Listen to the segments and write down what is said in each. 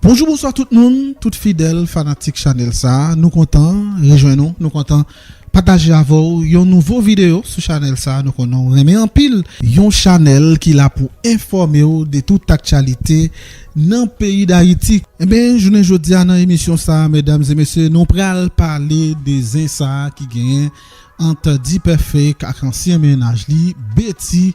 Bonjou bonswa tout moun, tout fidèl fanatik chanèl sa, nou kontan rejwenn ou, nou kontan pataje avè w yon nouvo videyo sou chanèl sa nou konnen w renmen anpil, yon chanèl ki la pou enfòme w de tout aktyalite nan peyi dayiti. Enben jounen jodia nan emisyon sa medam e mesye nou pral pale de zen sa ki genyen ant Dipèfèk ak ansyen mennaj li Betty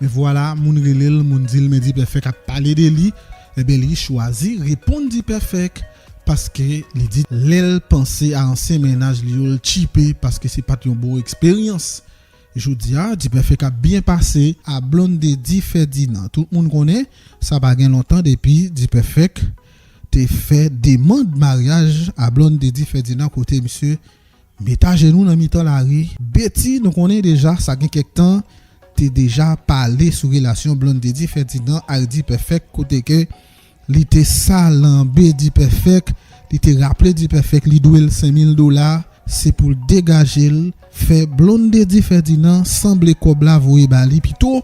Men vwala moun rele l, moun di l men Dipèfèk ap pale de li, enben li chwazi reponn Dipèfèk paske li di lè l panse a ansyen mennaj li yo l tchipe paske se pa t yon bon eksperyans. Jodi a Dipèfèk ap byen pase a Blondedy Ferdinand. Tout moun konnen sa pa gen lontan depi Dipèfèk te fè demand maryaj a Blondedy Ferdinand kote misye Met ajenou nan mitan lari. Betty nou konnen deja sa gen kèk tan te deja pale sou relasyon Blonde di Ferdinand ak D-Perfect kote ke li te salanbe D-Perfect li te raple D-Perfect li dwe l 5000 dola se pou l degaje l fè Blonde di Ferdinand sanble kòb la voye ba li pito.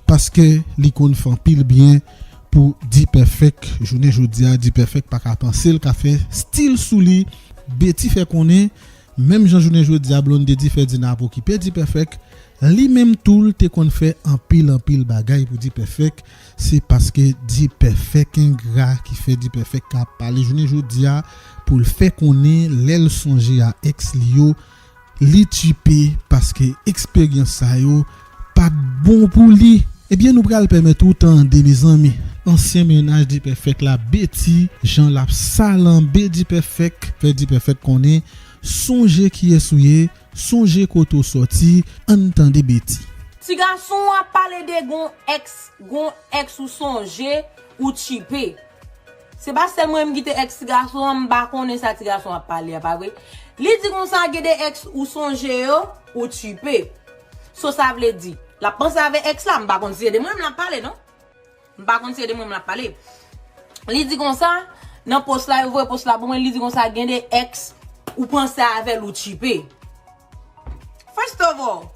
Paske li konn fè anpil byen pou D-perfect jounen jodi a D-perfect pa ka panse l ka fè stil sou li Betty fè konnen menm jan jounen jodi a Blondedy fè di nan ap okipe D-perfect li menm tou l te konn fè anpil anpil bagay pou D-perfect se paske D-perfect engra ki fè D-perfect ka ap pale jounen jodi a pou l fè konnen lè l sonje a ex li yo Li tchipe paske eksperyans sa yo pat bon pou li. Ebyen nou pral pèmèt ou tande mezanmi. Ansyen mennaj Dpèfèk la Betty jan lap salanbe Dpèfèk fè Dpèfèk konnen sonje kiyès ou ye sonje kote ou sòti ann tande Betty. Ti gason ap pale de gon ex gon ex ou sonje ou tchipe. Se pa sèl mwen menm ki te ex ti gason an m pa konnen sa ti gason an ap pale a pa vre Li di konsa gen de ex ou sonje yo ou tchipe So sa vle di l ap panse avè ex la m pa konn si se de mwen menm l ap pale non M pa konn si se de mwen menm l ap pale Li di konsa nan post la yo voye post la pou mwen li di konsa gen de ex ou panse avè l ou tchipe First of all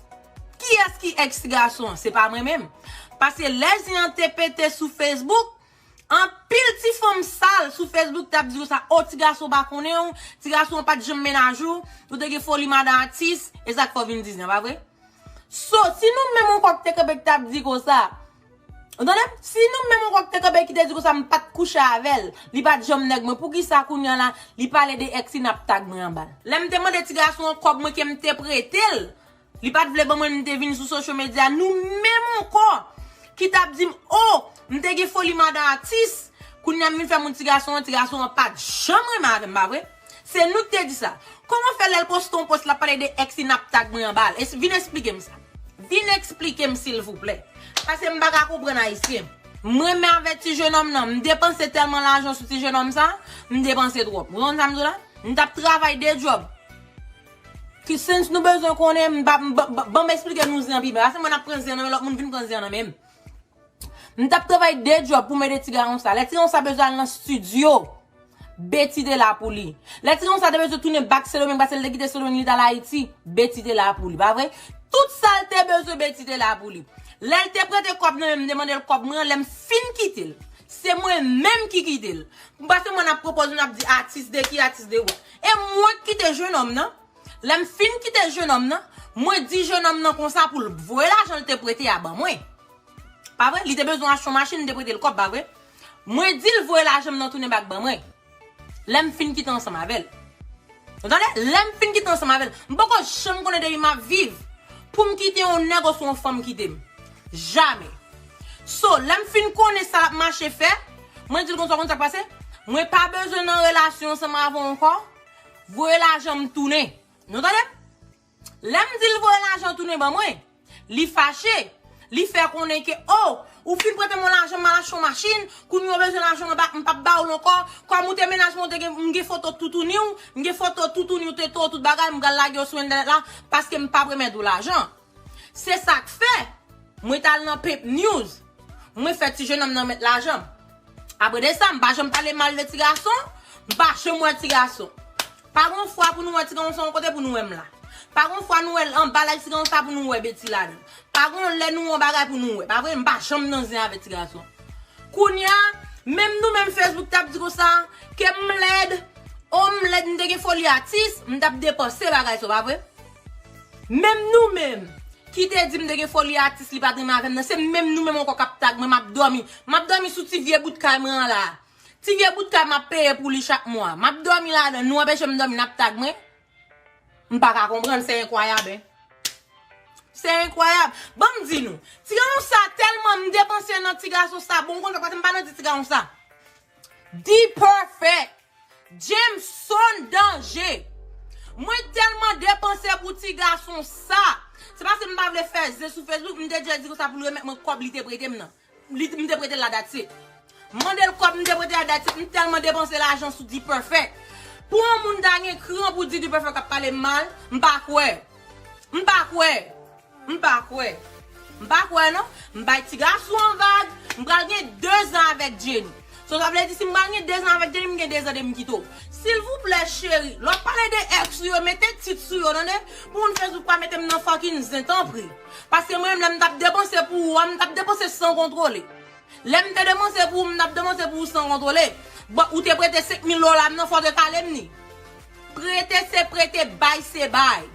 kiyès ki ex ti gason an se pa mwen menm Pase lè zen an te pete sou Facebook Anpil ti fanm sal sou Facebook tap di ou sa oh ti gason pa konnen ou, ti gason an pat janm mennaj ou, ou te gen foli madan atis, e sak fè w vin di zin an pa vre? So si nou menm on kok te kanpe ki tap di konsa, ou tande, si nou menm on kok te kanpe ki te di konsa m pat kouche avèl, li pat janm nèg mwen, poukisa kounya la li pale de ex li nap tag mwen anbal? Lèm te mande ti gason an kob mwen kem te pretel, Li pat vle ban mwen m te vin sou social media nou menm ankò ki tap dim oh m te gen foli madan atis kounya m vin fè moun ti gason an ti gason an pat janm renmen avè m pa vre se nou ki te di sa kòman fè lèl poste yon post lap pale de ex li nap tag mwen anbal es vin esplike m sa vin esplike m silvouplè pase m paka konprann ayisyen m renmen avè ti jenòm nan m depanse tèlman lajan sou ti jenòm sa m depanse twòp ou konprann sa m di w la m tap travay 2 djòb. Ki sens nou bezwen konnen m pa banm esplike nou zen pi ba se mwen nap pran zen nan men lòt moun vin pran zen nan menm m tap travay de djòb pou m ede ti garon sa lè ti garon sa bezwen al nan stidyo Betty te la pou li lè ti garon sa te bezwen tounen bak sendomeng pase l te kite sendomeng li t al ayiti Betty te la pou li pa vre tout sa l te bezwen Betty te la pou li lè l te prete kòb nan men m m te mande l kòb mwen an lè m fin kite l se mwen menm ki kite l m pa se mwen nap pwopoze nap di atis de ki atis de wè. E mwen k kite jenòm nan, lè m fin kite jenòm nan, mwen di jenòm nan konsa pou l voye lajan l te prete a ban mwen. Pa vre? Li te bezwen achte yon machin, m te prete l kòb, pa vre? Mwen di l voye lajan m nan tounen bak ban mwen, lè m fin kite ansanm avè l. Ou tande? Lè m fin kite ansanm avè l. M poko janm konnen depi m ap viv pou m kite yon nèg oswa yon fanm kite m. Jamè. So, lè m fin konnen sa l ap mache fè, mwen di l konsa, ou konn sa k pase? Mwen pa bezwen nan relasyon ansanm avè w ankò, voye lajan m tounen. Nou tande m? Lè m di l voye lajan w tounen ban mwen, li fache, li fè konnen ke, o, ou fin prete mwen lajan m al achte yon machin, kounye a ou bezwen lajan mwen pa, m p ap ba w l ankò, kòm ou te mennaj mwen, m gen foto toutouni w, m gen foto toutouni w, tete w, tout bagay, m pral lage yo sou entènèt la, paske m p ap remèt ou lajan. Se sak fè Mwen tal nan pimp news Mwen fè ti jenòm nan met lajan Apre de sa m pa janm pale mal de ti gason M pa janm wè ti gason Pa gon fwa pou nou wè ti gason son kote pou nou wè m la Pa gon fwa nou wè l anba laj ti gason sa pou nou wè Betty la dan Pa gon lè nou yon bagay pou nou wè pa vre M pa janm nan zen avè ti gason Kounya menm nou menm Facebook tap di konsa Ke m lèd Oh m lèd m te gen foli atis M tap depanse bagay sa w pa vre. Menm nou menm Ki te di m te gen foli atis li pat renmen avèm nan se menm nou menm ankò kap tag mwen map dòmi map dòmi sou ti vye bout kay mwen an la ti vye bout kay map peye pou li chak mwa map dòmi ladann nou anpeche m dòmi nap tag mwen m paka konprann se enkwayab hein se enkwayab banm di nou ti gason sa tèlman m depanse nan ti gason sa bon m konn fè paske m pa nan di ti gason sa. D-perfect! Jameson danje! Mwen telman depanse pou ti gason sa! Se paske m pa vle fè zen sou Facebook, m te di Elsie konsa pou l remèt mwen kòb li te prete m nan. Li, m te prete l la that's it. M mande l kòb m te prete l la that's it, m telman depanse lajan sou D-perfect. Pou yon moun ta gen kran pou di D-perfect ap pale m mal, m pa kwè. M pa kwè. M pa kwè. M pa kwè non. M bay ti gason an vag. M pral gen 2 zan avèk Jenny. So sa vle di si m pral gen 2 zan avèk Jenny m gen 2 zan depi m kite w. Silvouplè cheri, lè w ap pale de ex ou yo mete tit sou yo tande. Pou moun Facebook pa mete m nan fucking zen tanpri. Paske mwen menm lè m t ap depanse pou ou a m t ap depanse san kontwole. Lè m te depanse pou ou m t ap depanse pou ou san kontwole. Bon ou te prete 5000 dola m nan fò w te kale m ni. Prete se prete bay se bay.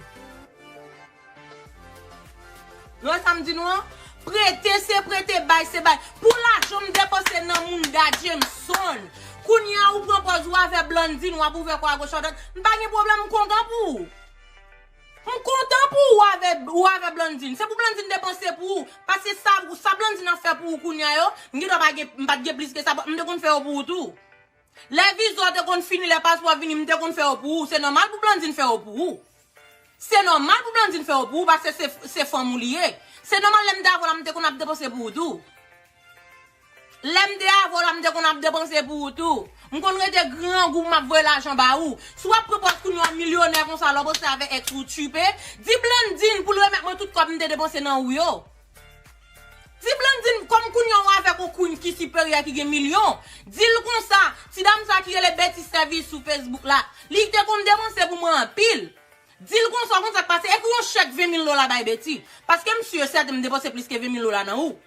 Nou wè sam di nou an? Prete se prete bay se bay. Pou lajan m depanse nan mounda Jameson. Kounya ou pran pòz ou avè Blandine wap ouvè kò a goch a dwat. M pa gen pwoblèm m kontan pou ou. M kontan pou ou avè ou avè Blandine. Se pou Blandine depanse pou ou. Paske sa sa Blandine ap fè pou ou kounya yo, m gendwa pa gen m pat gen plis ke sa, m te konn fè yo pou ou tou. Lè viza w te konn fini lè paspò a vini m te konn fè yo pou ou se nòmal pou Blandine fè yo pou ou se nòmal pou Blandine fè yo pou ou paske se se fanm ou li ye se nòmal lè m te avè w la m te konn ap depanse pou ou tou lè m te avè w la m te konn ap depanse pou ou tou m konn rete grangou m ap voye lajan ba ou si w ap pran pòz kounye w an milyonè konsa lè w ap rantre avè èks ou tchiipe di Blandine pou l remèt mwen tout kòb m te depanse nan ou yo. Ti Blandine kòm kounya w avèk on Queen ki siperyè ki gen milyon, di l konsa, ti dam sa ki rele Betty Service sou Facebook la, li te konn depanse pou mwen anpil. Di l konsa, w konn sa k pase, ekri on chèk 20 mil dola bay Betty, paske m si e sèten m depanse plis ke 20 mil dola nan ou.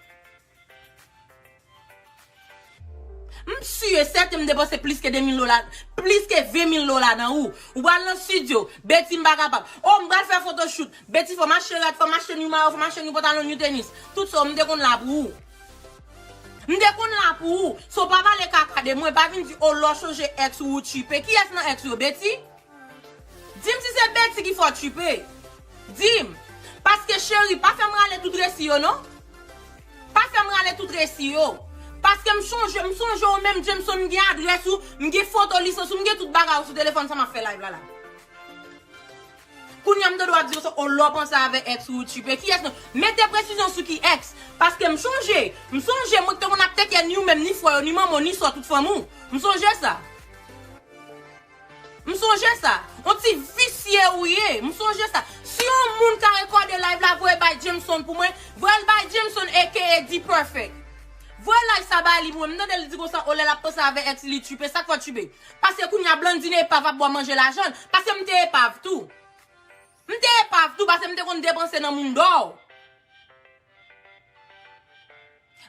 M sur et certain m depanse plis ke 2000 dola plis ke 20000 dola nan ou Ou pral nan studio Betty m pa kapab Oh m pral fè photoshoot Betty fò m achte rad fò m achte n you mayo fò m achte n you pantalon n you tenis Tout sa w m te konn la pou ou M te konn la pou ou So pa pale kaka de mwen Pa vin di oh lò w chanje ex ou ou tchiipe Kiyès nan ex ou yo Betty? Dim si se Betty ki fè w tchipe Dim Paske cheri pa fè m rale tout resi yo non Pa fè m rale tout resi yo Paske m chonje m sonje w menm Jameson m gen adrès ou M gen foto lisans ou M gen tout bagay ou sou telefòn sa m ap fè live la la Kounya m ta dwe ap di w sa oo lè w panse avè ex ou ou tchipe kiyès nan Mete presizyon sou ki ex Paske m chonje M sonje mwen k te konn ap teke ni ou menm ni frè yo ni manman w ni sò tout fanmi w M sonje sa. M sonje sa. On ti visye ou ye. M sonje sa. Si yon moun ka rekòde live la voye bay Jameson pou mwen, voyel bay Jameson aka D-Perfect. Voye live sa ba li pou mwen. M tande li di konsa oh lè lap panse avè ex li li tchwipe. Sak fè w tchwipe? Paske kounya Blandine epav ap bwa manje lajan l. Paske m te epav tou. M te epav tou pase m te konn depanse nan Mundo.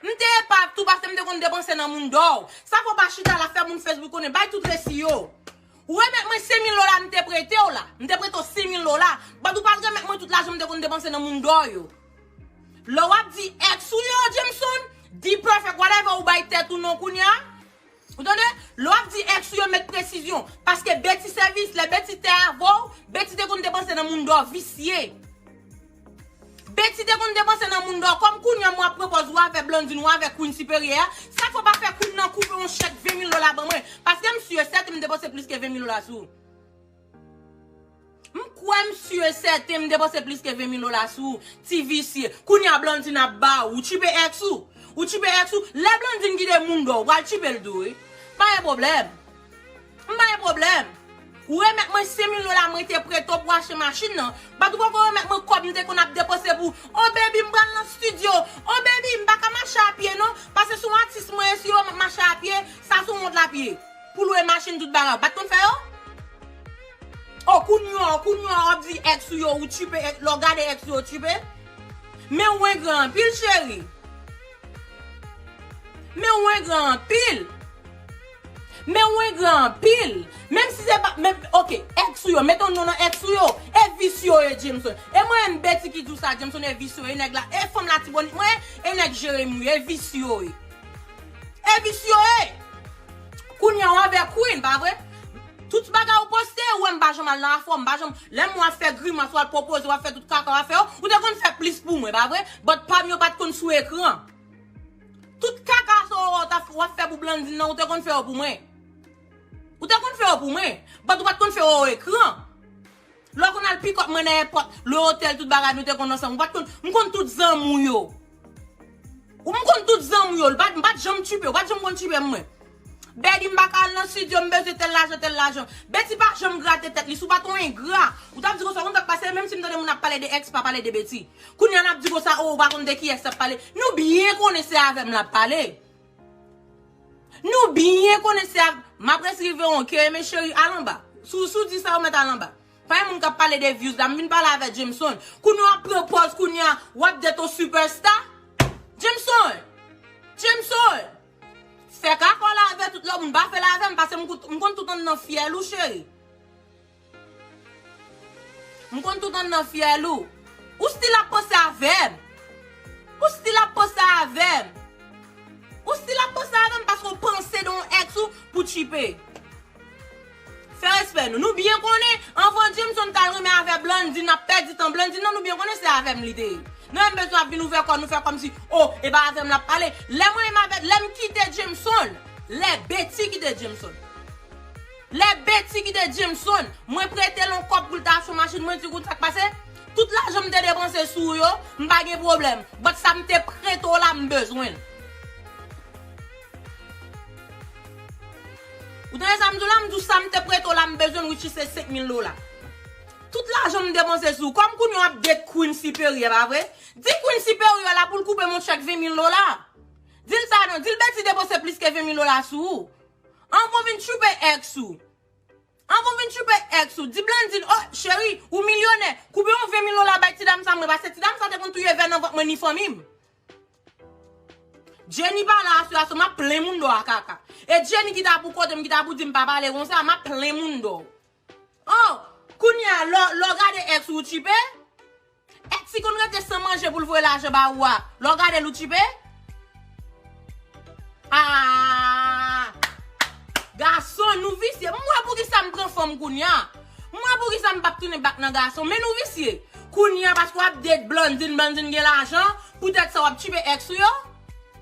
M te epav tou pase m te konn depanse nan Mundo. Sa fè w pa chita la fè moun Facebook konnen bay tout resi yo. Remèt mwen 5000 dola m te prete w la. M te prete w 5000 dola. But ou pat remèt mwen tout lajan m te konn depanse nan Mundo yo. Lè w ap di ex ou yo Jameson, D-Perfect whatever ou bay tèt ou non kounya. Ou tande? Lè w ap di ex ou yo met presizyon. Paske Betty sèvis, lè Betty te avè w, Betty te konn depanse nan moun dò visye. Betty te konn depanse nan moun dò. Kòm kounye an mwen ap pran pòz ou avè Blandine, ou avè Queen siperyè a, sa fè w pa fè Queen nan koupe yon chèk 20 mil dola ban mwen? Paske m si e sèten m depanse plis ke 20 mil dola sou ou. M kwè m su e sèten m depanse plis ke 20 mil dola sou ou, ti visye. Kounye a Blandine ap ba ou, ou tchipe ex ou? Ou tchipe ex ou? Lè Blandine kite moun dò, ou pral tchipe l tou wi. M pa gen pwoblèm. M pa gen pwoblèm. Ou remèt mwen 5 mil dola mwen te prete w pou achte machin nan, bat ou poko remèt mwen kòb m te konn ap depanse pou Oh baby m pral nan studio, Oh baby m pa ka mache a pye non, pase se yon atis mwen ye si yo wè m ap mache a pye, sa se yon wont l ap ye. Pou lwe machin tout bagay ou pat konn fè yo? Oh kounye an kounye an wap di ex ou yo ou tchipe ex lè w gade ex ou yo tchipe? Men ou engran anpil cheri Men ou engran anpil Men ou engran anpil Menm si se pa menm ok ex ou yo mete yon non nan ex ou yo e vis yo ye Jameson e mwen menm Betty ki di w sa Jameson e vis yo ye nèg la e fanm latibonit mwen ye e nèg Jeremie ou yo e vis yo ye. E visye e! Kounya w avè Queen, pa vre? Tout bagay ou poste, ou wè m pa janm al nan afè w, m pa janm, lè m wè w ap fè grimas, w al pwopoze, w ap fè tout kaka w ap fè yo, ou te konn fè plis pou mwen, pa vre? But pa m yo pa t konn sou ekran. Tout kaka sa ou wè w ta, w ap fè pou Blandine nan, ou te konn fè yo pou mwen. Ou te konn fè yo pou mwen. But ou pa t konn fè yo o ekran. Lè w konn al pick up mwen nan èpòt, le hotel tout bagay nou te konn ansanm ou pat konn, m konn tout zanmi w yo. Ou m konn tout zanmi w yo, m pat janm tchuipe, ou pat janm konn tchuipe m mwen. Betty m pa ka al nan studio m bezwen tèl lajan tèl lajan. Betty pa janm grate tèt li, si w pat yon engra, ou tap di konsa ou konn sak pase menm si m tande moun ap pale de ex pa pale de Betty. Kounya lap di konsa oh ou pa konn de ki ex lap pale, nou byen konnen se avè m lap pale. Nou byen konnen se ak Map res rive on ke eme cheri al anba Sou sou di sa ou met al anba Pa gen moun kap pale de views la m vin pale avè Jameson Kounye wap pran pòz kounya wap det on super star Jameson Jameson Fè kakòl avè tout lòt moun pa fèl avèm pasem m konn tout anndan fyèl ou cheri. M konn tout anndan fyèl ou. Ou stil ap panse avè m. Ou stil ap panse avè m. Ou stil ap panse avè m paske ou panse de yon ex ou pou tchipe. Fè respè nou. Nou byen konnen anvan Jameson t al renmen avè Blandine l ap pèdi tan Blandine nan nou byen konnen se avè m li te ye. Nou menm bezwen ap vin ouvè kò nou fè kòmsi o e pa avè m l ap pale. Lè mwen menm avè lè m kite Jameson lè Betty kite Jameson. Lè Betty kite Jameson, mwen prete l on kòb pou l ta achte machin, mwen di kounn sa k pase? Tout lajan m te depanse sou ou yo, m pa gen pwoblèm, but sa m te prete w la m bezwen l. Ou tande sa m di w la? M di w sa m te prete w la m bezwen l which is se 5000 dola. Tout lajan m depanse sou ou, kòm kounye w ap date Queen Siperyè pa vre? Di Queen Siperyè la pou l koupe m on chèk 20000 dola. Di l sa non, di l Betty depanse plis ke 20000 dola sou ou. An kon vin tchoupe ex ou. An kon vin tchoupe ex ou. Di Blandine oh cheri ou milyonè koupe yon 20 mil dola bay ti dam sa mwen pase ti dam sa te konn touye vè nan vant mwen ni fanmim. Jenny pala a sitiyasyon map plen moun dò a kaka. E Jenny ki ta pou kotem ki ta pou dim pa pale konsa map plen moun dò. Oh! Kounye a, lè w gade ex ou, ou tchipe? Ex ki konn rete san manje pou l voye lajan ba ou a, lè w gade l ou tchipe? Aah! Gason, nou visye. M wè poukisa m pran fanm kounye a. M wè poukisa m pap tounen bak nan gason. Men nou visye. Kounye a paske w ap date Blandine, Blandine gen lajan, poutèt sa w ap tchipe ex ou yo?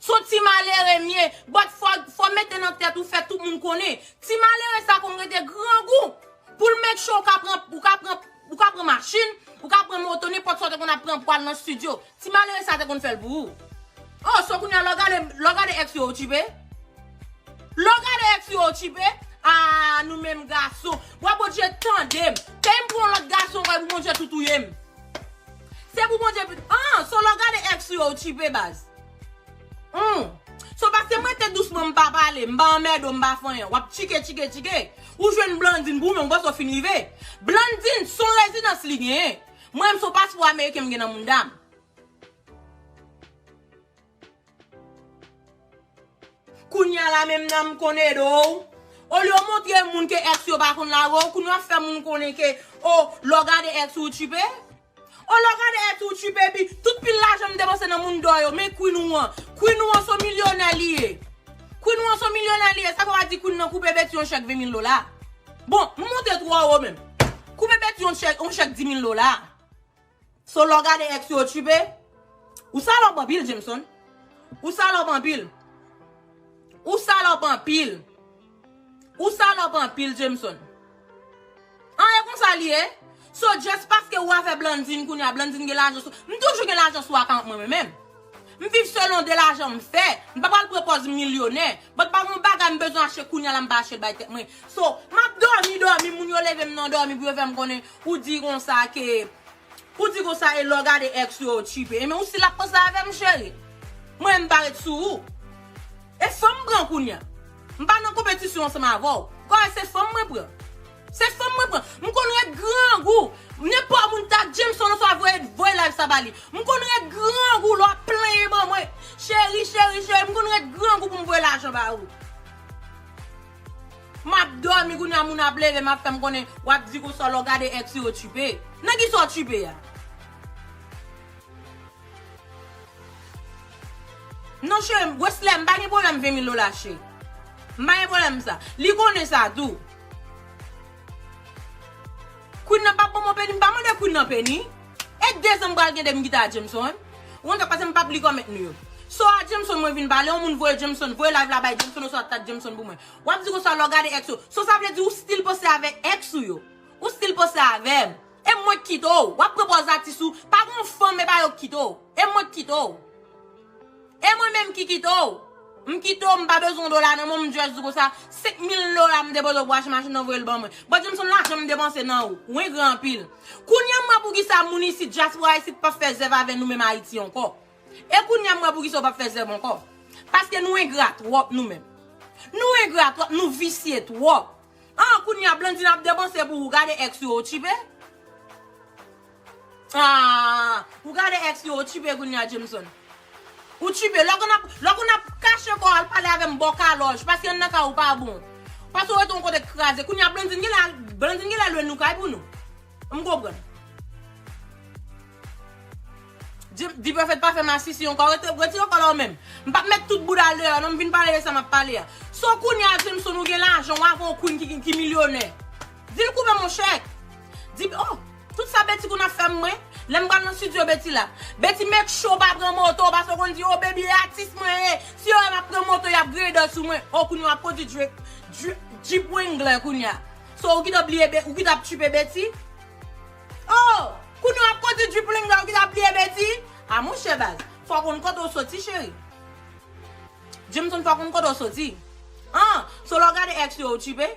Son ti malere mye, but fò mete nan tèt ou fè tout moun konnen, ti malere sa konn rete grangou poul make sure ou ka pran ou ka pran ou ka pran machin, ou ka pran moto nenpòt sa ou te konn ap pran pou al nan studio, ti malere sa te konn fèl pou ou. Oh so kounya lè w gade lè w gade ex yo ou tchipe? Lè w gade ex yo ou tchipe? Ahh nou menm gason. Wa Bondje tandem. Peyim pou yon lòt gason anko epi Bondje tou touyem. Se pou Bondje pu ahh so lè w gade ex yo ou tchipe baz. Humm So pasem rete dousman m pa pale m pa anmède w m pa fanyan wap tchike tchike tchike ou jwenn Blandine pou ou menm ou panse w fin rive Blandine son rezidans li genyen mwen menm son paspò ameriken m gen nan mounda m kounya la menm nan m konn ede w olye w montre moun ke ex yo pa konn lage w kounya w ap fè moun konnen ke oh lè w gade ex ou ou tchipe. Oh lorade et ou tu baby tout pil lajan m depanse nan moun dò yo men queen ou an queen ou an son milyonè li ye queen ou an son milyonè li ye sa fè wa di queen nan koupe Betty yon chèk 20 mil dola bon m monte twò wo menm koupe Betty yon chèk yon chèk 10 mil dola so lò gade ex yo tchiipe ou salòp anpil Jameson ou salòp anpil ou salòp anpil. Ou salòp anpil Jameson. An e konsa li ye? So just paske ou avè Blandine kounya Blandine gen lajan sou M toujou gen lajan sou akaunt mwen mwen menm. M viv selon de lajan m fè. M pa pral pran pòz milyonè. But pa gon bagay m bezwen achte kounya la m pa achte l bay tèt mwen. So, m ap dòmi dòmi moun yo leve m nan dòmi pou yo fè m konnen ou di konsa ke Ou di konsa e lè w gade ex ou yo ou tchipe e men ou silak konsa avè m cheri mwen menm m pa ret sou ou e fanm m pran kounya m pa nan konpetisyon ansanm avè w kò e se fanm mwen pran se fanm mwen pran m konn ret grangou nenpò moun ta Jameson oswa voye voye live sa ba li m konn ret grangou lè w ap plenyen ban mwen cheri cheri cheri m konn ret grangou pou m voye lajan ba ou. Map domi kounya moun ap levem ap fem konnen wap di konsa lè w gade ex ou okipe. Nan kisa w okipe a? Non cherim, Wesley m pa gen pwoblem 20 mil dola cheri. M pa gen pwoblem sa. Li konnen sa tou. Queen nan pap banm on peni m pa mande queen nan peni. Et dezem pral gen 2 m gita a Jameson. Ou anka pase m pap li comment nou yo. So a Jameson mwen vin pale yon moun voye Jameson voye live la bay Jameson oswa tag Jameson pou mwen. Wap di konsa lè w gade ex ou. So sa vle di ou still panse avek ex ou yo. Ou still panse avem. E mwen k kite w. Wap pran pòz atis ou. Pa gen yon fanm epa yo k kite w. E mwen k kite w. E mwen menm ki kite w? M kite w, m pa bezwen yon dola nan men w, m just di w konsa, 5 mil dola m depoze w pou w achte machin nan, voye l ban mwen. Bon, di m son lajan m depanse nan ou. Ou engra anpil. Kounye a m wè poukisa moun isit, dyaspora isit p ap fè zèv avè nou menm Ayiti ankò. E kounye a m wè poukisa ou p ap fè zèv ankò. Paske nou engra twòp nou menm. Nou engra twòp, nou visye twòp. Ah kounya Blandine ap depanse pou ou gade ex yo ou tchipe Ah ou gade ex yo ou tchipe kounya Jameson Ou tchipe lè konn ap lè konn ap kache kòw al pale avèm baw kalòj paske an nan kay ou pa bon Pase ou rete yon kote kraze kounya Blandine genlè al Blandine genlè lwe nou kay pou nou. M konprann. Dprofet pa fè masisi ankò retire kòl ou menm m pap met tout boudal deyò non m vin pale de sa map pale a so kounya Jameson ou gen lajan wa gon Queen ki milyonè dil koupe m on chèk di oh tout sa Betty konn ap fèm mwen lèm pral nan studio Betty la Betty make sure ou pa pran moto paske ou konn di oh baby e atis mwen ye si yo wèm ap pran moto yap grader sou mwen oh kounya wap kondi Jeep Wrangler kounya. So ou ki t ap bliye Be ou ki t ap tchuipe Betty? Oh! Kounye w ap konti tchuipleng la ou ki t ap bliye Betty? Ah monchè baz, fò w konn kote w soti cheri. Jameson fò w konn kote w soti. Ah! So lè w gade ex yo ou tchuipe?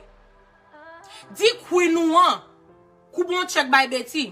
Di queen ou an koupe yon tchèk bay Betty.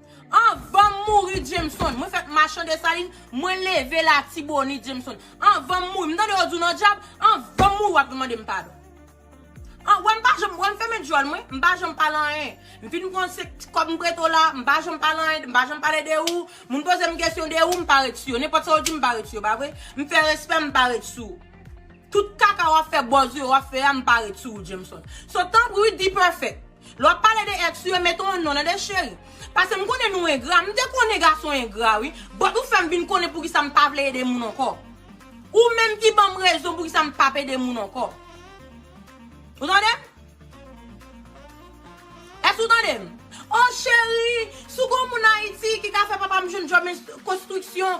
Anvanm mouri Jameson mwen fèt machan Desalin mwen leve latibonit Jameson anvanm mouri m tande yo di w nan dyab anvanm mouri wap vin mande m padon an wè m pa janm wè m fèmen dyòl mwen m pa janm pale anyen m fin konn se kòb m prete w la m pa janm pale anyen m pa janm pale de ou moun poze m kesyon de ou m pa ret sou yo nenpòt sa w di m pa ret sou yo pa vre m fè respè m pa ret sou ou tout kaka wap fè bòz ou yo wap fè a m pa ret sou ou Jameson so tanpri wi D-Perfect. Lè wap pale de ex ou yo mete yon non nan de cheri. Pase m konnen nou engra, m te konnen gason engra wi, but ou fèm vin konnen poukisa m pa vle ede moun ankò. Ou menm ki banm rezon poukisa m pap ede moun ankò. Ou tande m? Èske ou tande m? Oh cheri, si w gon moun Ayiti ki ka fè papa m jwenn job konstriksyon,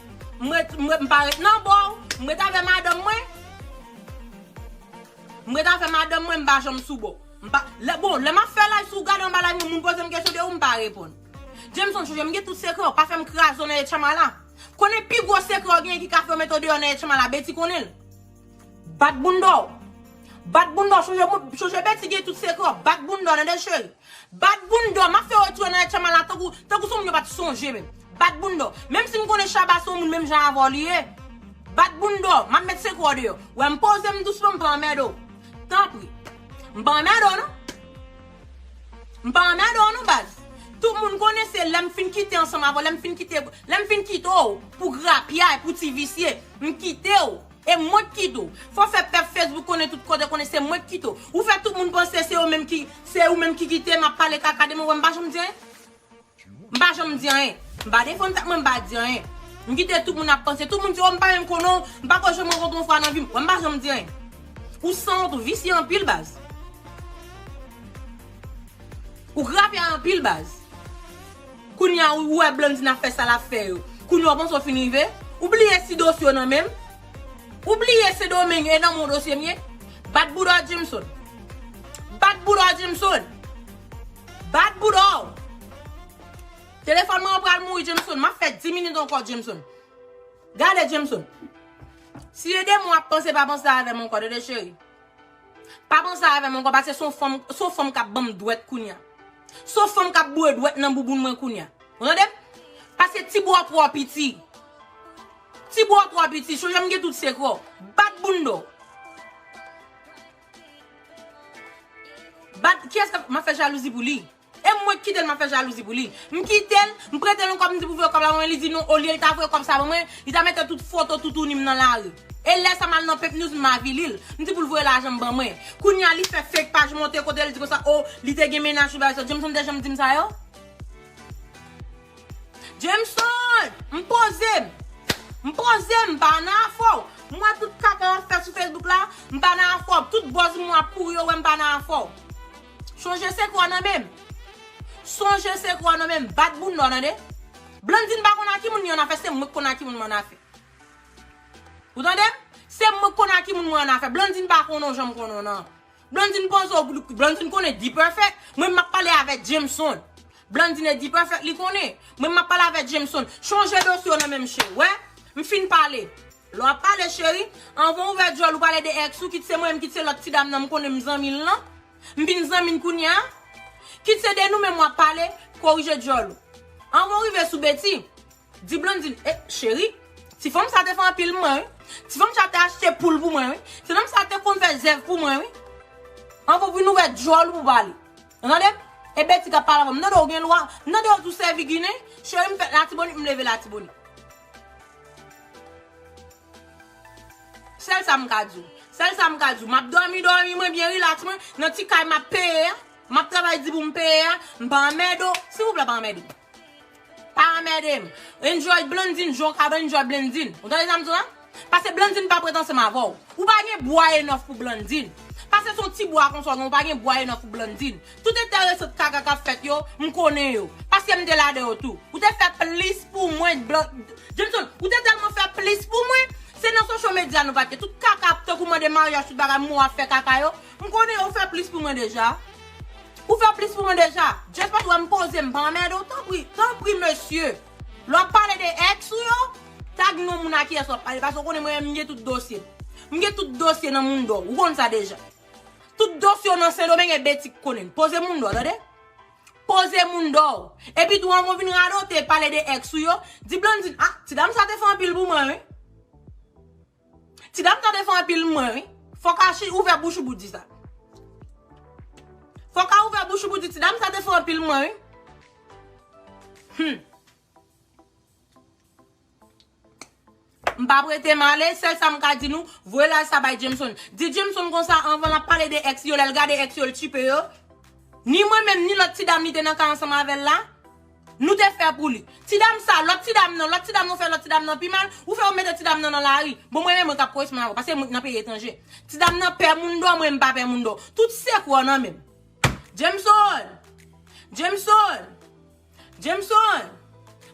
M ret, m ret, m pa ret nan bò w. M ret avè madanm mwen. M ret avè madanm mwen, m pa janm sou bò w. M pa, lè, bon, lè m ap fè live, si w gade anba live mwen, moun poze m kesyon de ou, m pa reponn. Jameson chanje, m gen tout sekrè w, pa fè m kraze w nan Etchamala. Konnen pi gwo sekrè w genyen ki ka fè yo mete w deyò nan Etchamala, Betty konnen l. Bat bounda w. Bat bounda w, chanje moun, chanje Betty gen tout sekrè w, bat bounda w, Nadège chérie. Bat bounda w, map fè wè tou anayè tchama la tankou, tankou son moun yo pat sonje menm. Bat bounda w. Menm si m konnen Shabba son moun menm jan avè w li ye. Bat bounda w, map met sekwe w deyò. Wè m poze m dousman m pa anmède w. Tanpri. M pa anmède w non. M pa anmède w non baz. Tout moun konnen se lè m fin kite ansanm avè w, lè m fin kite, lè m fin kite w pou grapyay, pou ti visye, m kite w. E mwen k kit ou. Fò fè pèp Facebook konnen tout kote konnen se mwen k kit ou. Ou fè tout moun panse se yo menm ki se ou menm ki kite m ap pale kaka de mwen wè m pa janm di anyen. M pa janm di anyen. M pa defann tèt mwen m pa di anyen. M kite tout moun ap panse. Tout moun di oh m pa menm konnen w, m pako janm rankontre w yon fwa nan vi m. Wè m pa janm di anyen. Ou sanwont ou visye anpil baz. Ou grapya anpil baz. Kounya ou wè Blandine ap fè sa lap fè yo. Kounya ou panse ou fin rive? Ou bliye si dosye w nan men m? Ou bliye Sendomeng e nan men w dosye m ye? Bat bouda w Jameson. Bat bouda w Jameson. Bat bouda w. Telefòn mwen an pral mouri Jameson. Map fè 10 minit ankò Jameson. Gade Jameson. Si e de mwen wap panse pa panse avè m ankò tande cheri. Pa panse avèm ankò pase son fanm son fanm kap banm dwèt kounya. Son fanm kap boure dwèt nan bouboun mwen kounya. Ou tandem? Pase ti bwa w twò piti. Ti bwa w twò piti, chonje m gen tout sekrè w. Bat bounda w. Bat kiyès kap map fè jalouzi pou li. E mwen ki kitel map fè jalouzi pou li. M kitel, m pretel yon kòb m di pou voye kòb la ban mwen li di non olye li ta voye kòb sa ban mwen, li ta mete tout foto toutouni m nan lari. E lè sa mal nan Pepnews m avili l, m di pou l voye lajan m ban mwen. Kounya li fè fake paj monte kote l di konsa oh li te gen mennaj tout bagay sa. Jameson te janm di m sa yo? Jameson! M poze m! M poze m pa nan afè w. M wè tout kaka wap fè sou Facebook la, m pa nan afè w. Tout buzz m wè ap kouri yo wè m pa nan afè w. Sonje se kwa nan menm. Sonje se kwa nan menm. Bat bounda w tande. Blandine pa konn a ki moun li an afè se mwen ki konn a ki moun mwen an afè. Ou tande m? Se mwen ki konn a ki moun mwen an afè. Blandine pa konnen w jan m konnen w nan. Blandine panse w Blandine konnen D-Perfect. Mwen m ap pale avè Jameson. Blandine e D-Perfect li konnen. Mwen m ap pale avè Jameson. Sonje dosye w nan menm cheri. Wè? M fin pale. Lè wap pale cheri, anvan ouvè dyòl ou pale de ex ou, kit se mwen menm kit se lòt ti dam nan m konnen m zanmi l lan, m vin zanmi n kounya, kit se de nou menm wap pale, korije dyòl ou. Anvan w rive sou Betty, di Blandine, eh cheri, ti fanm sa te fè anpil mwen wi, ti fanm sa te achte poul pou mwen wi, ti fanm sa te konn fè zèv pou mwen wi. Anvan w vin ouvè dyòl ou pou pale. Ou tande? E Betty kap pale anvan m, m tande w gen lwa, m tande w di w sèvi ginen, cheri m fèt latibonit m leve latibonit. Sèl sa m ka di w. Sèl sa m ka di w. M ap dòmi dòmi mwen byen rilaks mwen, nan ti kay m ap peye a, m ap travay di pou m peye a, m pa anmède w, silvouplè pa anmède m. Pa anmède m. Enjoy Blandine jan w kapab enjoy Blandine. Ou tande sa m di w la? Pase Blandine pa prèt ansanm avè w. Ou pa gen bwa enòf pou Blandine. Pase se yon ti bwa konsa w gen, ou pa gen bwa enòf pou Blandine. Tout enteresant kaka kap fèt yo, m konnen yo. Paske m te ladan yo tou. Ou te fè plis pou mwen Jameson, ou te tèlman fè plis pou mwen, se nan social media nou pat ye. Tout kaka tankou mande maryaj tout bagay mou ap fè kaka yo, m konnen yo, ou fè plis pou mwen deja. Ou fè plis pou mwen deja. Just paske ou wè m poze m pa anmède w tanpri, tanpri mesye. Lè wap pale de ex ou yo, tag non moun a kiyès wap pale paske ou konnen mwen menm m gen tout dosye. M gen tout dosye nan mundo, ou konn sa deja. Tout dosye w nan sendomeng e beti k konnen l. Poze moun dò tande. Poze moun dò. Epi tou anvan w vin radote pale de ex ou yo, di Blandine ah ti dam sa te fè anpil pou mwen wi. Ti dam sa te fè anpil pou mwen wi. Fok Archi ouvè bouch ou pou di sa. Fok a ouvè bouch ou pou di ti dam sa te fè anpil pou mwen wi. Humm. M pa prete m ale, sèl sa m ka di nou, voye laj sa bay Jameson. Di Jameson konsa anvan l ap pale de èks yo, lè l gade èks yo l tchipe yo. Ni mwen menm, ni lòt ti dam li te nan ka ansanm avè l la, nou te fè pou li. Ti dam sa, lòt ti dam nan, lòt ti dam yo fè lòt ti dam nan pi mal, ou fè yo mete ti dam nan nan lari. Bon mwen menm mwen k ap koresponn avè w, paske mwen k nan peyi etranje. Ti dam nan pè moun dò, mwen m pa pè moun dò. Tout sekrè w nan men m. Jameson! Jameson! Jameson!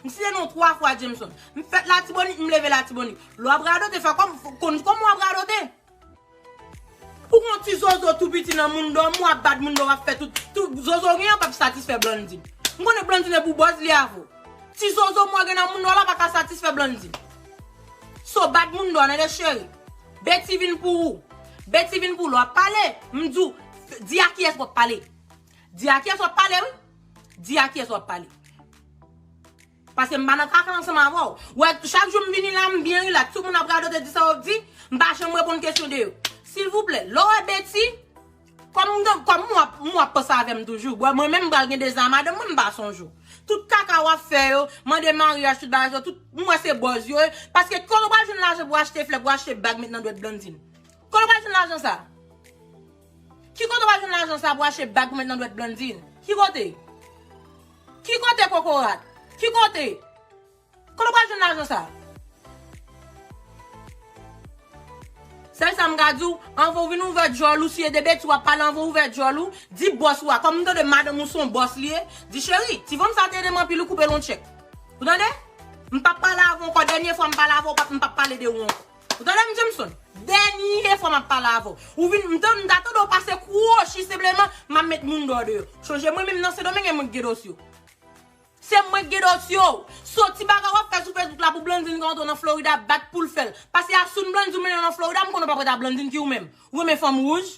M site non w 3 fwa Jameson. M fèt Latibonit, m leve Latibonit. Lè w ap radote, fè kòm, konn kòman w ap radote. Ou gon ti zozo tou piti nan moun dòm ou, w ap bat moun dòm, w ap fè tout, tout zozo w gen an p ap satisfè Blandy. M konnen Blandy ne pou bòz li avè w. Ti zozo mwen gen nan moun dòm la pa ka satisfè Blandy. So bat moun dòm nan de cheri. Betty vin pou ou. Betty vin pou ou. Lè w ap pale, m di w, di a kiyès w ap pale. Di a kyes wap pale wi. Di a kyes wap pale. Paske m pa nan kaka ansanm avè w. Ou wè chak jou m vini la m byen rilaks. Tout moun ap radote di sa yo ap di. M pa janm reponn kesyon de yo. Silvouplè, lè w wè Betty, kòm m gen, kòm m wè w ap panse avè m toujou. Bon mwen menm m pral gen 2 zan a madanm mwen m pa sonje w. Tout kaka w ap fè yo, mande maryaj tout bagay sa yo tout, m wè se bòz yo ye. Paske kote w pral jwenn lajan pou w achte flè, pou w achte bag met nan dwèt Blandine? Kote w pral jwenn lajan sa? Ki kote w al jwenn lajan sa pou achte bag pou met nan dwèt Blandine? Ki kote? Ki kote kokorat? Ki kote? Kote w pral jwenn lajan sa? Sèl sa m ka di w, anvan w vin ouvè djòl ou, si e de betiz w ap pale anvan w ouvè djòl ou, di bòs ou a, kòm m tande madanm ou se yon bòs li ye, di cheri, ti fanm sa te ede m anpil ou koupe l yon tchèk. Ou tande? M pap pale avè w ankò, dènye fwa m pale avè w, m pap pale de ou ankò. Ou tande m Jameson? Dènye fwa m ap pale avè w. Ou vin, m ta tande w pase kwochi senpleman, m ap met moun deyò deyò. Chonje mwen menm nan Sendomeng e mwen ki gen dosye w. Se mwen ki gen dosye w. So ti bagay w ap fè sou Facebook la pou Blandine ka antre w nan Florida bat pou l fè l. Pase Assoun Blandine ou mennen w nan Florida, m konnen w pa prèt a Blandine ki ou menm. Ou renmen fanm wouj?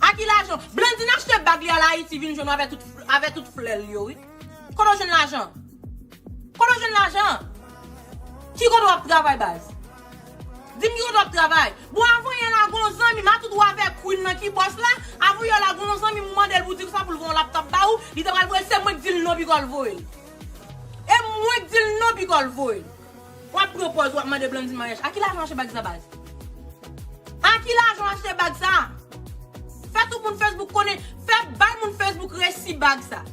A ki lajan? Blandine achte bag li al Ayiti vin jwenn w avè tout flè l yo wi. Kote w jwenn lajan an? Kote w jwenn lajan an? Ki kote w ap travay baz? Di m ki kote w ap travay? Bon avan yè la gen yon zanmi m atout w avè Queen nan ki bòs la, avan yè la gen yon zanmi m ou mande l pou w di l sa pou l voye yon laptop ba ou, li te pral voye l se mwen k di l non pi kò l voye l. E mwen k di l non pi kò l voye l. Wap pran pòz wap mande Blandine maryaj. A ki lajan w achte bag sa baz? A ki lajan w achte bag sa? Fè tout moun Facebook konnen, fè bay moun Facebook resi bag sa.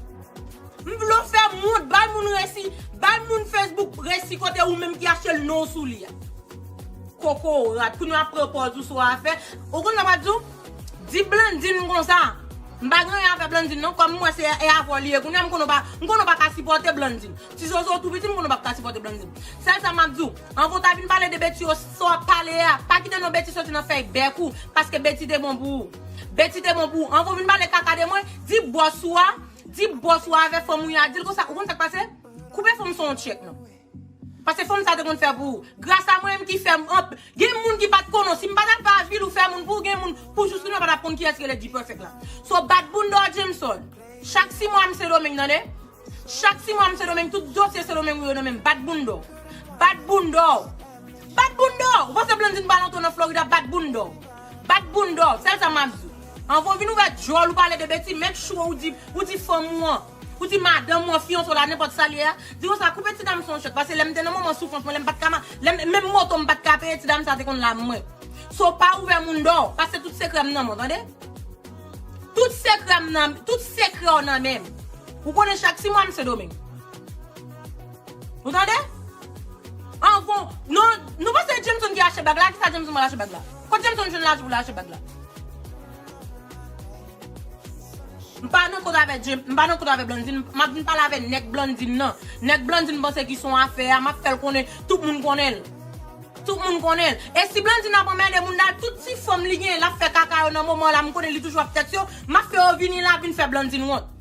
M vle w fè moun, bay moun resi, bay moun Facebook resi kote ou menm ki achte l non w sou li a. Kokorat, kounye w ap pran pòz ou sou afè. Ou konn sa m ap di w? Di Blandine konsa, m pa gen anyen avè Blandine non, kòm m wè se e avè w li ye kounye a, m konnen w pa, m konnen w pa ka sipòte Blandine. Ti zozo ou tou piti m konnen w pap ka sipòte Blandine. Sèl sa map di w, anvan w ta vin pale de Betty yo, sa w ap pale a, pa kite non Betty soti nan fèy bèk ou, paske Betty te bon pou ou. Betty te bon pou ou. Anvan w vin pale kaka de mwen, di bòs ou a, di bòs ou a avè fanm ou yo a, di l konsa, ou konn sa k pase? Koupe fanm san w tchek non. Paske fanm sa te konn fè pou ou. Gras a mwen menm ki fè, gen moun ki pat konnen w, si m pat al pa vil ou fè moun pou ou, gen moun, pou jous kounye a pa tap konn kiyès ki rele D-Perfect la. So bat bounda w Jameson. Chak 6 mwa m Sendomeng tande. Chak ti mwa m sendomeng tout dosye sendomeng ou yo nan menm bat bounda w bat bounda w bat bounda w ou panse blandine pa lontan nan florida bat bounda w bat bounda w sèl sa map di w anvan w vin ouvè dyòl ou pale de beti make sure ou di ou di fanm ou an ou di madanm ou an fiyanse w la nenpòt sa l ye a di konsa koupe ti dam sa yon chèk pase lè m te nan moman soufrans mwen lè m pat ka ma lè m menm moto m pat ka peye ti dam sa te konn la m mwen so pa ouvè mounda w pase tout sekrè m nan men w tande. Tout sekrèm nan, tout sekrè w nan menm. Ou konnen chak ti mwa m sendomeng. Ou tande? Anvan, non, nou panse e Jameson ki achte bag la, kisa Jameson pral achte bag la? Kot Jameson jwenn lajan pou l achte bag la? M pa nan kont avè Jame, m pa nan kont avè Blandine, m ap vin pale avè nèg Blandine nan. Nèg Blandine panse ki son afè a, m ap fè l konnen, tout moun konnen l. Tout moun konnen l. E si Blandine ap anmède moun dal tout ti fanm li genyen lap fè kaka yo nan moman la m konnen li toujou ap tèt yo, map fè yo vini la vin fè Blandine wont.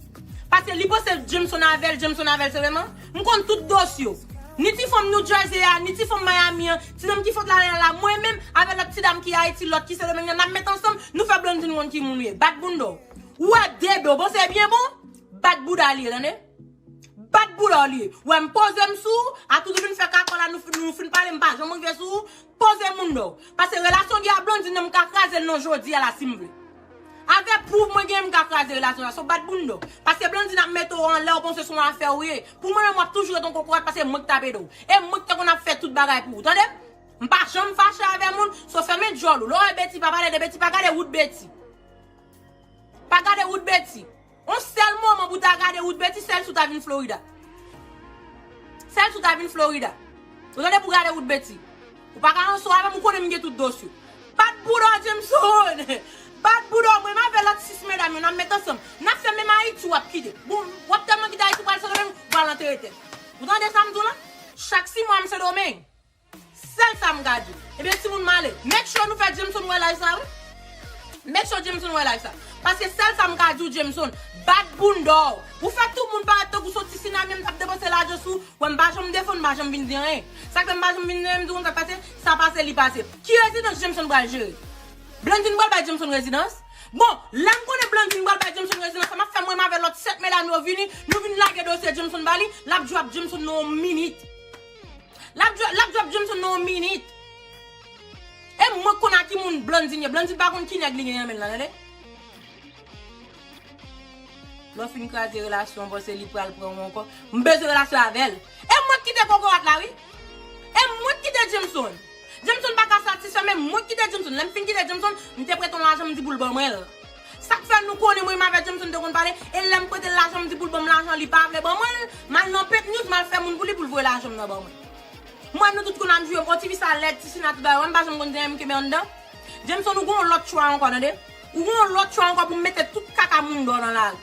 Pase li panse Jameson avèl, Jameson avèl se menman? M konn tout dos yo. Ni ti fanm New Jersey a, ni ti fanm Miami an, ti nonm ki fot lala la, mwen menm avè lòt ti dam ki Ayiti, lòt ki Sendomeng nan nap met ansanm, nou fè Blandine wont ki moun ou ye. Bat bounda w. Ou wè Debe w bon se byen bon? Bat bouda li ye tande. Bat boulè w li. Wè m poze m sou ou, atout ou vin fè kakò la nou fin pale m pa janm rive sou ou, poze moune w. Pase relasyon li a Blondine nan m ka kraze l nan jodi a la si m vle. Avè pwouv mwen genyen m ka kraze relasyon sa so bat boune w. Pase Blondine ap mete w anlè w panse son afè w ye. Pou mwen menm w ap toujou ret yon kokorat pase mwen k t ap ede w. E mwen k te konn ap fè tout bagay pou ou tande. M pa janm fache avè moun, so fèmen dyòl ou. Lè w wè Betty pa pale de Betty pa gade wout Betty. Pa gade wout Betty. On sèl moman pou ta gade Ruth Betty sèl si w ta vin Florida. Sèl si w ta vin Florida. Ou tande pou gade Ruth Betty. Ou pa ka anso avè m ou konnen m gen tout dos yo. Bat bouda w Jameson! Bat bouda w mwen m avè lòt 6 medam yo n ap met ansanm. N ap fè menm Ayiti w ap kite. Bon w ap tèlman kite Ayiti w pral Sendomeng ou pral antere tèt. Ou tande sa m di w la? Chak 6 mwa m Sendomeng. Sèl sa m ka di. Ebyen timoun m ale. Make sure nou fè Jameson wè live sa wi. Make sure Jameson wè live sa. Paske sèl sa m ka di w Jameson, bat bounda w. Ou fè tout moun parèt tankou son ti sinamyon m t ap depanse lajan sou w. Wè m pa janm defann, m pa janm vin di anyen. Sa k fè m pa janm vin di anyen, m di w konn sa k pase, sa pase li pase. Ki rezidans Jameson pral jere? Blandine pral bay Jameson rezidans? Bon, lè m konnen Blandine pral bay Jameson rezidans, sa m ap fè mwen menm avè lòt 7 medam yo vini, nou vin lage dosye Jameson ba li, l ap jwe ap Jameson nan yon minit. Lap djòl lap djòl Johnson nan yon minit. E mwen k konn a ki moun Blandine ye. Blandine pa konn ki nèg li gen nan men l lan tande. Lè w fin kraze relasyon an panse li pral pran ou ankò. M bezwen relasyon avè l. E mwen k kite kokorat la wi. E mwen k kite Jameson. Jameson pa ka satisfè men mwen k kite Jameson. Lè m fin kite Jameson, m te prete yon lajan m di pou l ban mwen l. Sak fè nou konnen mwen Maverick Johnson te konn pale e lèm prete l lajan m di pou l ban m lajan li pa vle ban mwen l, m al nan Pink News m al fè moun pou li pou l voye lajan m nan ban mwen. Mwen nou tout konn ap joure m oh tifi sa lèd, ti sina tout bagay wè m pa janm konn di anyen m kenbe anndan. Johnson ou gen yon lòt chwa ankò tande. Ou gen yon lòt chwa ankò pou mete tout kaka moun dò nan lari.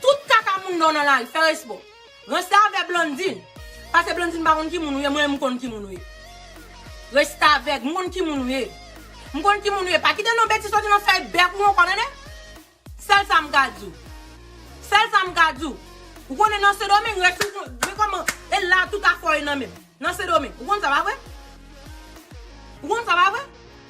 Tout kaka moun dò nan lari, fè respè w. Restavèg Blondine Pase Blondine m pa konn ki moun ou ye mwen m konn ki moun ou ye Restavèg m konn ki moun ou ye M konn ki moun ou ye pa kite non betiz soti nan fèy bèk ou ankò nene Sèl sa m ka di w Sèl sa m ka di w Ou konnen nan sendomeng rès ou konnen kòman e la tout afè w ye nan men m. Nan sendomeng ou konn sa pa vre? Ou konn sa pa vre?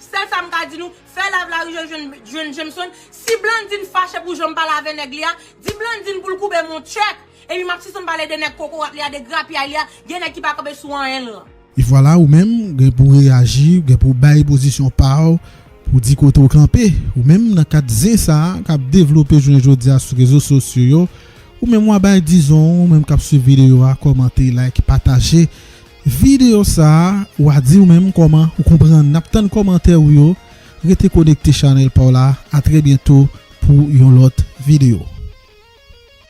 Sèl sa m ka di nou, fè lav lari jèn jèn jèn Jameson, si Blandine fache pou janm pale avè nèg li a, di Blandine pou l koube m on tchèk, epi m ap sispann pale de nèg kokorat li a, de grapyay li a, gen nèg ki pa kanpe sou anyen l lan. E vwala ou menm, gen pou w reyaji, gen pou w bay pozisyon pa w, Pou di kote w kanpe, ou menm nan kad zen sa a k ap devlope jounen jodi a sou rezo sosyo yo, ou menm w a bay dizon w, ou menm k ap swiv videyo a kòmante, like, pataje videyo sa a, w a di ou menm kòman ou konprann, n ap tann kòmantè ou yo, rete konekte chanèl pa w la, a trè byento pou yon lòt videyo.